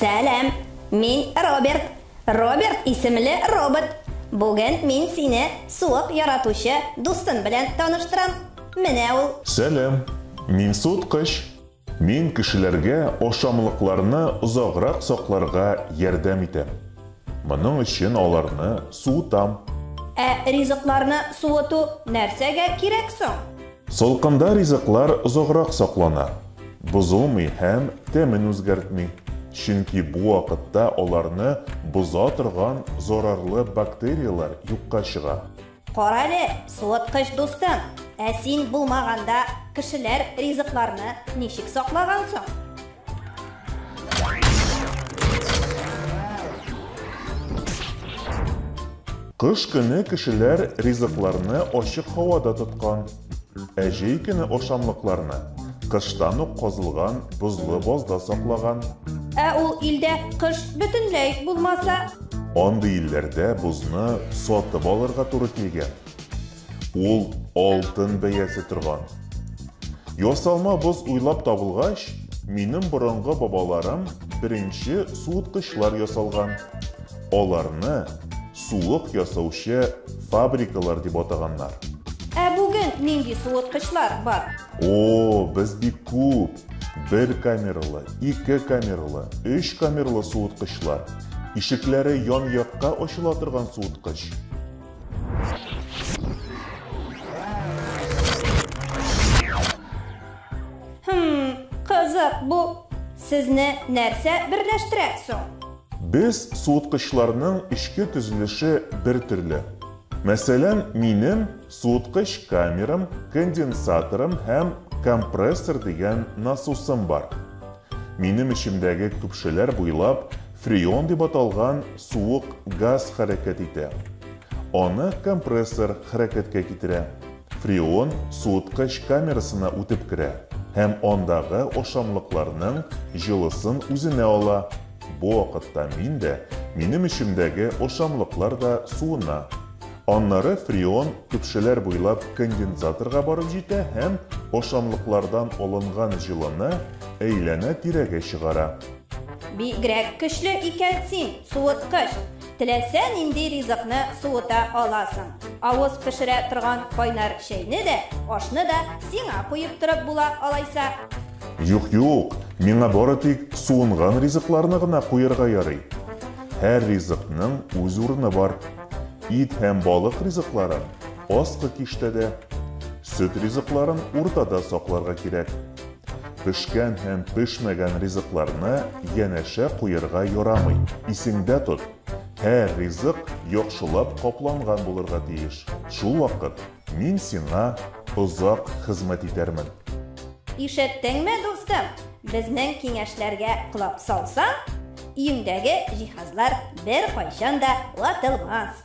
Сәлам, мин Роберт. Роберт исемле робот. Бүген мин сине суык яратучы дустым белән таныштырам. Менә ул. Сәлам, мин суыткыч. Мин кешеләргә ашамлыкларны озаграк сакларга ярдәм итәм. Моның өчен аларны суытам. Ә ризыкларны суыту нәрсәгә кирәк соң? Салкында ризыклар озаграк саклана, бозылмый һәм тәмен үзгәртми, чөнки бу вакытта аларны боза торган зарарлы бактерияләр юкка чыга. Кара әле, суыткыч дустым, ә син булмаганда кешеләр ризыкларны ничек саклаган соң? Кыш көне кешеләр ризыкларны ачык һавада тоткан. Ә җәй көне ашамлыкларны кыштан ук казылган бозлы базда саклаган. Ә ул илдә кыш бөтенләй үк булмаса? Андый илләрдә бозны сатып алырга туры килгән. Ул алтын бәясе торган. Ясалма боз уйлап табылгач, минем борынгы бабаларым беренче суыткычлар ясалган. Аларны суык ясаучы фабрикалар дип атаганнар. Ә бүген нинди суыткычлар бар? О, без бик күп! Бер камералы, ике камералы, өч камералы суыткычлар. Ишекләре ян-якка ачыла торган суыткыч. Хм, кызык бу. Сезне нәрсә берләштерә соң? Без суыткычларның эчке төзелеше бер төрле. Мәсәлән, минем суыткыч камерам, конденсаторым һәм компрессор дигән насосым бар. Минем эчемдәге көпшәләр буйлап фреон дип аталган суык газ хәрәкәт итә. Аны компрессор хәрәкәткә китерә. Фреон суыткыч камерасына үтеп керә һәм андагы ашамлыкларның җылысын үзенә ала. Бу вакытта мин дә, минем эчемдәге ашамлыклар да суына. Аннары фреон көпшәләр буйлап конденсаторга барып җитә һәм ашамлыклардан алынган җылыны әйләнә-тирәгә чыгара. Бигрәк көчле икән син, суыткыч! Теләсә нинди ризыкны суыта аласың. Авыз пешерә торган кайнар чәйне дә, ашны да сиңа куеп торып була алайса. Юк, юк, миңа бары тик суынган ризыкларны гына куярга ярый. Һәр ризыкның үз урыны бар. Ит һәм балык ризыкларын, аскы киштәдә. Сөт ризыкларын уртада сакларга кирәк. Пешкән һәм пешмәгән ризыкларны янәшә куерга ярамый. Исеңдә тот, һәр ризык яхшылап капланган булырга тиеш. Шул вакыт мин сиңа озак хезмәт итәрмен. Ишеттеңме, дустым? Безнең киңәшләргә колак салсаң, өеңдәге җиһазлар беркайчан да ватылмас.